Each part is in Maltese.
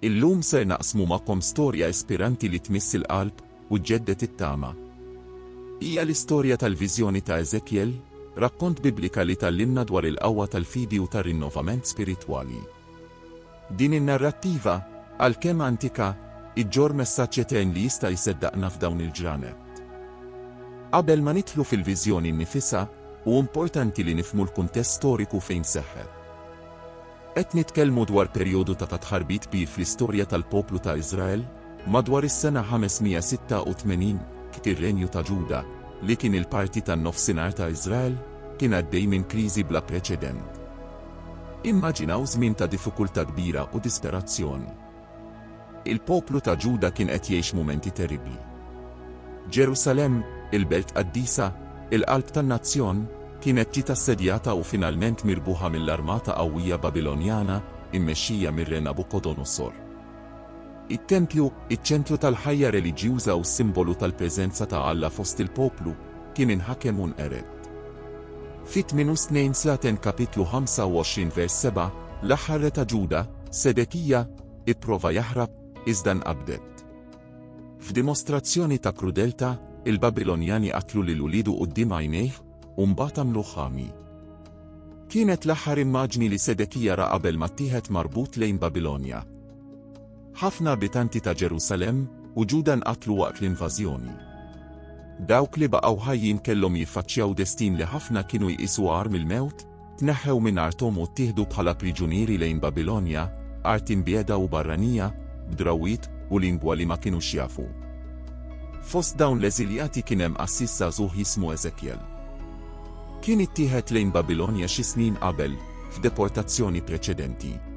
Illum ser naqsmu magħkom storja ispiranti li tmiss il-qalb u ġġedded it-tama. Hija l-istorja tal-viżjoni ta' Eżekjel, rakkont Biblika li tgħallimna dwar il-qawwa tal-fidi u tar-rinnovament spiritwali. Din in-narrattiva, għalkemm antika, iġġorr messaġġ etern li jista' jseddaqna f'dawn il-ġranet. Qabel ma nidħlu fil-viżjoni nnifisha, hu importanti li nifhmu l-kuntest storiku fejn seħħet. Qed nitkellmu dwar perjodu ta' tħarbit kbir fl-istorja tal-poplu ta' Iżrael, madwar is-sena 586, kif ir-renju ta' Ġuda, li kien il-parti tan-nofsinhar ta' Iżrael, kien għaddej minn kriżi bla preċedent. Immaġinaw żmien ta' diffikultà kbira u disperazzjon. Il-poplu ta' Ġuda kien qed jgħix mumenti terribbli. Ġerusalemm, il-belt qaddisa, il-qalb tan-nazzjon, kienet ġiet assedjata u finalment mirbuħa mill-armata qawwija Babilonjana mmexxija mir-re Nabukodonosor. It-tempju, iċ-ċentru tal-ħajja reliġjuża u s-simbolu tal-preżenza ta' Alla fost il-poplu, kien inħakem u nqered. Fi 28 sa ten kapitlu 25 vers 7, l-aħħar re ta' Ġuda, Sedekija, ipprova jaħrab, iżda nqabdet. F'dimostrazzjoni ta' krudeltà, il-Babilonjani qatlu lil uliedu quddiem għajnejh, u mbagħad għamluh ħami. Kienet l-aħħar immaġni li Sedekija ra qabel ma ttieħed marbut lejn Babilonja. Ħafna abitanti ta' Ġerusalemm u Ġuda nqatlu waqt l-invażjoni. Dawk li baqgħu ħajjin kellhom jiffaċċjaw destin li ħafna kienu jqisu agħar mill-mewt, tneħħew minn arthom u ttieħdu bħala priġunieri lejn Babilonja, art imbiegħda u barranija, b'drawwiet u lingwa li ma kinux jafu. Fost dawn l-eżiljati kien hemm qassis żagħżugħ jismu Eżekjel. Kien ittieħed lejn Babilonja xi snin qabel, f'deportazzjoni preċedenti.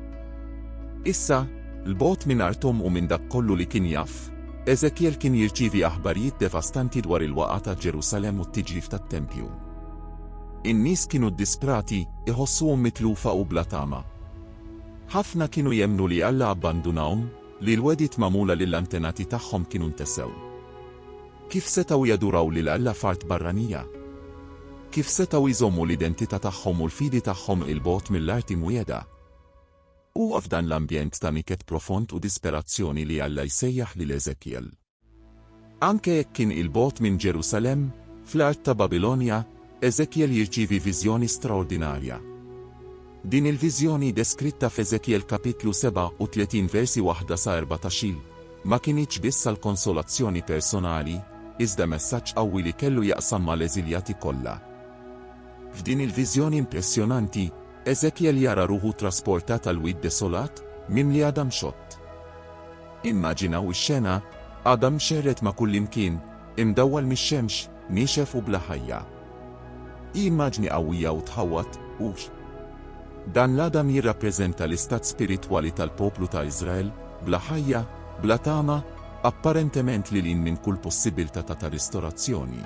Issa, 'l bogħod minn arthom u minn dak kollu li kien jaf, Eżekjel kien jirċievi aħbarijiet devastanti dwar il-waqgħa ta' Ġerusalemm u t-tiġrif tat-tempju. In-nies kienu ddisprati, iħossuhom mitlufa u bla tama. Ħafna kienu jemmnu li Alla abbandunahom, li l-wegħdiet magħmula lill-antenati tagħhom kienu ntesew. Kif setgħu jaduraw lil Alla f'art barranija? Kif setgħu jżommu l-identità tagħhom u l-fidi tagħhom 'il bogħod mill-art imwiegħda? Huwa f'dan l-ambjent ta' niket profond u disperazzjoni li Alla jsejjaħ lil Eżekjel. Anke jekk kien 'il bogħod minn Ġerusalemm, fl-art ta' Babilonja, Eżekjel jirċievi viżjoni straordinarja. Din il-viżjoni deskritta f'Eżekjel kapitlu 37 versi 1 sa 14, ma kinitx biss għal konsolazzjoni personali, iżda messaġġ qawwi li kellu jaqsam mal-eżiljati kollha. F'din il-viżjoni impressjonanti, Eżekjel jara ruħu trasportat għal wied desolat, mimli għadam xott. Immaġinaw ix-xena, għadam mxerred ma' kullimkien, imdawwal mix-xemx, Niexef u bla ħajja. Hi immaġni qawwija u tħawwad, hux? Dan l-għadam jirrappreżenta l-istat spiritwali tal-poplu ta' Iżrael, bla ħajja, bla tama, apparentement lil hinn minn kull possibbiltà ta' ta' ristorazzjoni.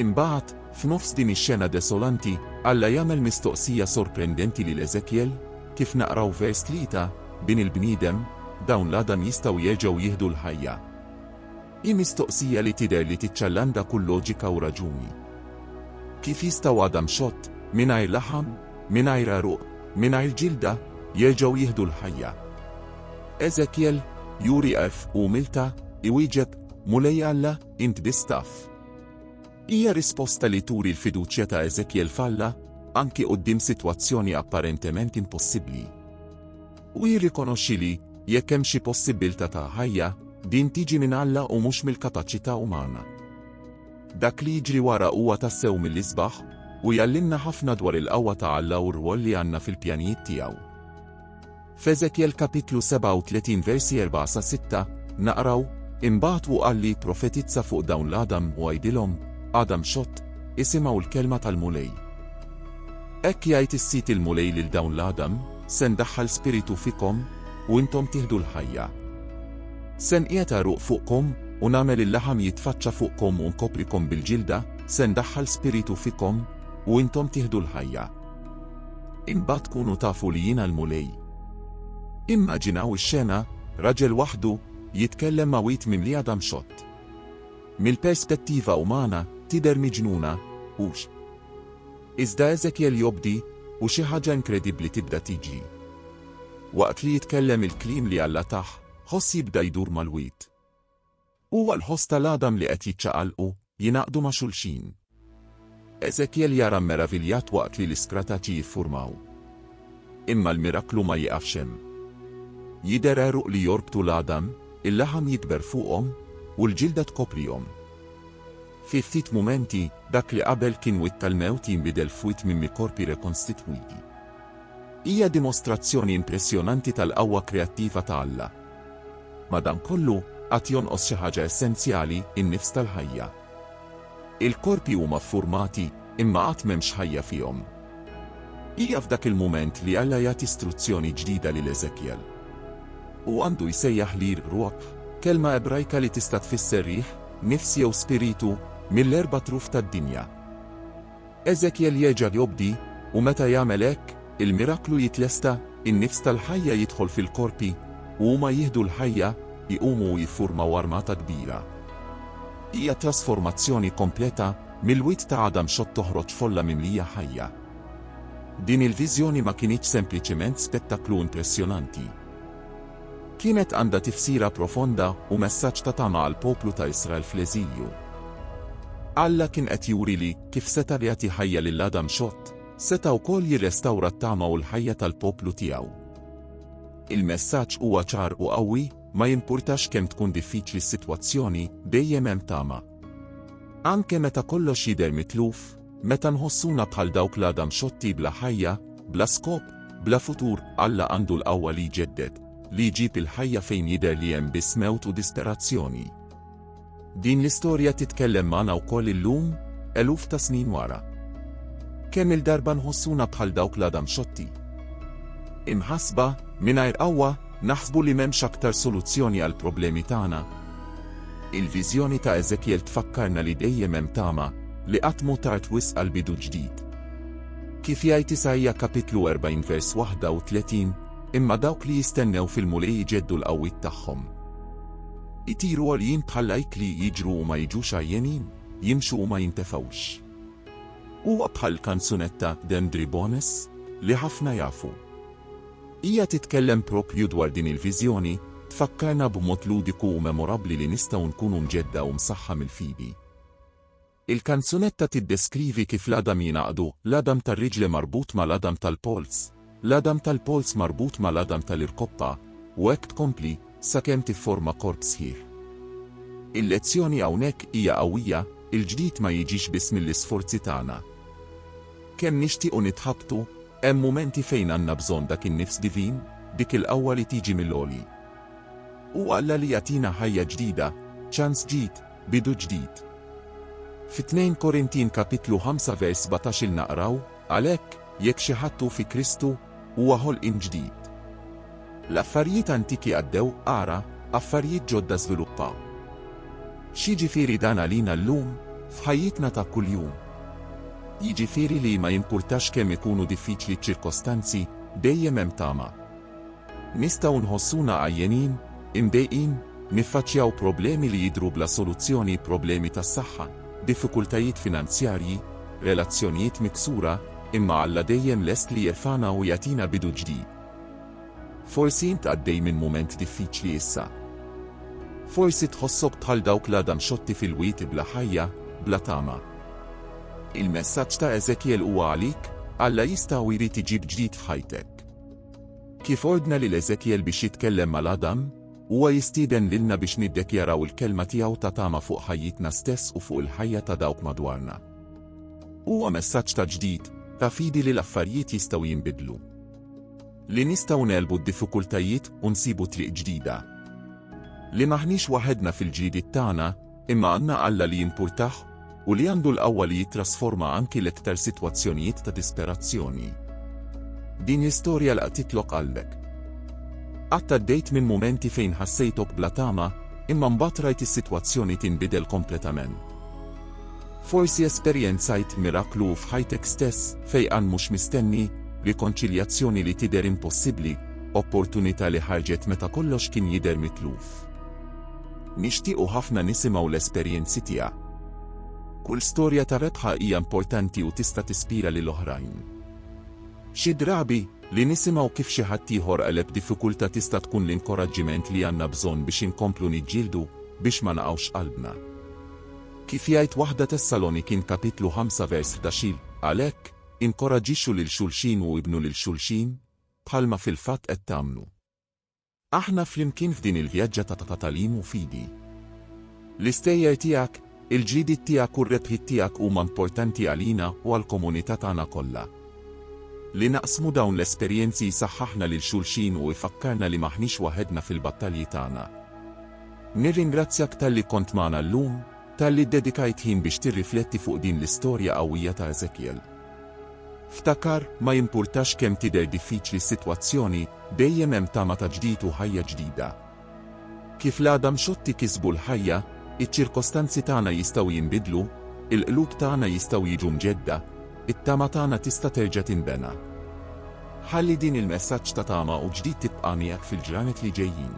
Imbagħad, f'nofs din ix-xena desolanti, Alla jagħmel mistoqsija sorprendenti lil Eżekjel, kif naqraw vers tlieta, Bin il-bniedem, dawn l-għadam jistgħu jerġgħu jieħdu l-ħajja? Hi mistoqsija li tidher li tiċċallanda kull loġika u raġuni. Kif jistgħu għadam xott, mingħajr laħam, mingħajr għeruq, mingħajr ġilda, jerġgħu jieħdu l-ħajja? Eżekjel, juri għerf u umiltà, iwieġeb, Mulej Alla, int biss taf. Hija risposta li turi l-fiduċja ta' Eżekjel f'Alla, anki quddiem sitwazzjoni apparentement impossibbli. u jirrikonoxxi li, jekk hemm xi possibbiltà ta' ħajja, din tiġi minn Alla u mhux mill-kapaċità umana. Dak li jiġri wara huwa tassew mill-isbaħ, u jgħallimna ħafna dwar il-qawwa ta' Alla u r-rwol li għandna fil-pjanijiet tiegħu. F'Eżekjel kapitlu 37 versi 4 sa 6, naqraw, Imbagħad hu qal li jipprofetizza fuq dawn l-għadam u għidilhom, Għadam xott, isimgħu l-kelma tal-Mulej. Hekk jgħid is-Sid il-Mulej lil dawn l-għadam, Se ndaħħal spiritu fikom, u intom tieħdu l-ħajja. Se nqiegħed għeruq fuqkom, u nagħmel il-laħam jitfaċċa fuqkom u nkoprikom bil-ġilda, se ndaħħal spiritu fikom, u intom tieħdu l-ħajja. Imbagħad tkunu tafu li jiena l-Mulej. Immaġinaw ix-xena, raġel waħdu, jitkellem ma' wid mimli għadam xott. Mill-perspettiva umana, tidher miġnuna, hux? Iżda Eżekjel jobdi, u xi ħaġa inkredibbli tibda tiġri. Waqt li jitkellem il-kliem li Alla tah, ħoss jibda jdur mal-wied. Huwa l-ħoss tal-għadam li qed jiċċaqalqu, jingħaqdu ma' xulxin. Eżekjel jara mmeraviljat waqt li l-iskra ta' ċi jiffurmaw. Imma l-miraklu ma jiqafx hemm. Jidher għeruq li jorbtu l-għadam, il-laħam jikber fuqhom, u l-ġilda tkoprihom. Fi ftit mumenti, dak li qabel kien wied tal-mewt jinbidel f'wied minn mi korpi rekonstitwiti. Hija dimostrazzjoni impressjonanti tal-qawwa kreattiva ta' Alla. Madankollu, għad jonqos xi ħaġa essenzjali, in-nifs tal-ħajja. Il-korpi huma ffurmati, imma għad m'hemmx ħajja fihom. Hija f'dak il-mument li Alla jagħti struzzjoni ġdida lil Eżekjel. Hu għandu jsejjaħ lir ruħ, kelma Ebrajka li tista' tfisser riħ, nifs jew spiritu, mill-erba' truf tad-dinja. Eżekjel jerġa' jobdi, u meta jagħmel hekk, il-miraklu jitlesta, in-nifs tal-ħajja jidħol fil-korpi, u huma jieħdu l-ħajja, iqumu u jiffurmaw armata kbira. Hija trasformazzjoni kompleta, mill-wied ta' Adam xott toħroġ folla mimlija ħajja. Din il-viżjoni ma kinitx sempliċement spettaklu impressjonanti. Kienet għandha tifsira profonda u messaġġ ta' tama għall-poplu ta' Israel fl-eżilju. Alla kien qed juri li, kif seta' li jagħti ħajja lil Adam xott, seta' wkoll jirrestawra t-tama u l-ħajja tal-poplu tiegħu. Il-messaġġ huwa ċar u qawwi, ma jimpurtax kemm tkun diffiċli s-sitwazzjoni, dejjem hemm tama. Anke meta kollox jidher mitluf, Meta nħossuna bħal dawk l-għada mxotti bla ħajja, bla skop, bla futur, Alla għandu l-qawwa li jġedded, li jġib il-ħajja fejn jidher li hemm biss mewt u disperazzjoni. Din l-istorja titkellem magħna wkoll illum, eluf ta' snin wara. Kemm il-darba nħossuna bħal dawk l-għada mxotti. Imħasba, mingħajr qawwa, naħsbu li m'hemmx aktar soluzzjoni għall-problemi tagħna, Il-viżjoni ta' Eżekjel tfakkarna li dejjem hemm tama, li qatt mhu tard wisq għal bidu ġdid. Kif jgħid Isaija kapitlu 40 vers 31, Imma dawk li jistennew fil-Mulej iġeddu l-qawwiet tagħhom. Itiru għoljin bħall-għajk li jiġru u ma jiġux għajjenin, jimxu u ma jintefgħux. Huwa bħall-kanzunetta Dendri Bones, li ħafna jafu. Hija titkellem proprju dwar din il-viżjoni, tfakkarna b'mod ludiku u memorabbli li nistgħu nkunu mġedda u msaħħa mill-fidi. Il-kanzunetta tiddeskrivi kif l-għadam jingħaqdu, l-għadam tar-riġle marbut mal-għadam tal-polz, l-għadam tal-polz marbut mal-għadam tal-irkoppa, u hekk tkompli, sakemm tifforma korp sħiħ. Il-lezzjoni hawnhekk hija qawwija, il-ġdid ma jiġix biss mill-isforzi tagħna. Kemm nixtiequ nitħabtu, Hemm mumenti fejn għandna bżonn dak in-nifs divin, dik il-qawwa li tiġi mill-għoli. Hu Alla li jagħtina ħajja ġdida, ċans ġid, bidu ġdid. Fi 2 Korintin kapitlu 5 vers 17 naqraw, Għalhekk, jekk xi ħadd hu fi Kristu, huwa ħolqien ġdid. L-affarijiet antiki għaddew, ara, affarijiet ġodda żviluppaw. X'jiġifieri dan għalina llum, f'ħajjitna ta' kuljum? Jiġifieri li ma jimpurtax kemm ikunu diffiċli ċ-ċirkostanzi, dejjem hemm tama. Nistgħu nħossuna għajjenin, imdejqin, niffaċċjaw problemi li jidhru bla soluzzjoni, problemi tas-saħħa, diffikultajiet finanzjarji, relazzjonijiet miksura, imma Alla dejjem lest li jerfagħna u jagħtina bidu ġdid. Forsi int għaddej minn mument diffiċli issa. Forsi tħossok bħal dawk l-għadha mxotti fil-wied bla ħajja, bla tama. Il-messaġġ ta' Eżekjel huwa għalik, Alla jista' u jrid iġib ġdid f'ħajtek. Kif ordna lil Eżekjel biex jitkellem mal-għadam, huwa jistieden lilna biex niddekjaraw il-kelma tiegħu ta' tama fuq ħajjitna stess u fuq il-ħajja ta' dawk madwarna. Huwa messaġġ ta' ġdid, ta' fidi li l-affarijiet jistgħu jinbidlu. Li nistgħu ngħelbu d-diffikultajiet u nsibu triq ġdida. Li m'aħniex waħedna fil-ġlidiet tagħna, imma għandna Alla li jimpurtah u li għandu l-qawwa li jittrasforma anki l-iktar sitwazzjonijiet ta' disperazzjoni. Din l-istorja laqtitlok qalbek. Qatt għaddejt minn mumenti fejn ħassejtok bla tama, imma mbagħad rajt is-sitwazzjoni tinbidel kompletament. Forsi esperjenzajt miraklu f'ħajtek stess, fejqan mhux mistenni, rikonċiljazzjoni li tidher impossibbli, opportunità li ħarġet meta kollox kien jidher mitluf. Nixtiequ ħafna nisimgħu l-esperjenzi tiegħek. Kull storja ta' rebħa hija importanti u tista' tispira lil oħrajn. Xi drabi, li nisimgħu kif xi ħadd ieħor għeleb diffikultà tista' tkun l-inkoraġġiment li għandna bżonn biex inkomplu niġġieldu biex ma naqgħux qalbna. Kif jgħid waħda Tessalonikin kapitlu ħamsa vers ħdax-il, Għalhekk, inkoraġġixxu lil xulxin u ibnu lil xulxin, bħalma fil-fatt qed tagħmlu. Aħna flimkien f'din il-vjaġġa ta' tagħlim u fidi. L-istejjer tiegħek, il-ġlidiet tiegħek u r-rebħiet tiegħek huma importanti għalina u għall-komunità tagħna kollha. Li naqsmu dawn l-esperjenzi jsaħħaħna lil xulxin u jfakkarna li m'aħniex waħedna fil-battalji tagħna. Nirringrazzjak talli kont magħna llum, talli ddedikajt ħin biex tirrifletti fuq din l-istorja qawwija ta' Eżekjel. Ftakar, ma jimpurtax kemm tidher diffiċli s-sitwazzjoni, dejjem hemm tama ta' ġdid u ħajja ġdida. Kif l-għada mxotti kisbu l-ħajja, iċ-ċirkostanzi tagħna jistgħu jinbidlu, il-qlub tagħna jistgħu jiġu mġedda, it-tama tagħna tista' terġa' tinbena. Ħalli din il-messaġġ ta' tama u ġdid tibqa' miegħek fil-ġranet li ġejjin.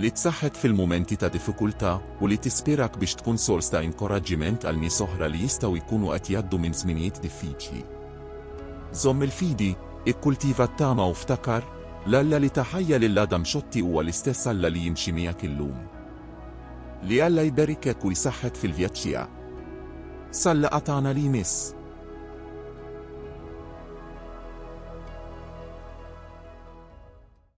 li tsaħħek fil-mumenti ta' diffikultà u li tispirak biex tkun sors ta' inkoraġġiment għal nies oħra li jistgħu jkunu qed jgħaddu minn żminijiet diffiċli. Żomm il-fidi, ikkultiva t-tama u ftakar, l-Alla li ta ħajja lil Adam Schotti huwa l-istess Alla li jimxi miegħek illum. Li Alla jberikek u jsaħħek fil-vjaġġ tiegħek. Sal-laqgħa tagħna li jmiss!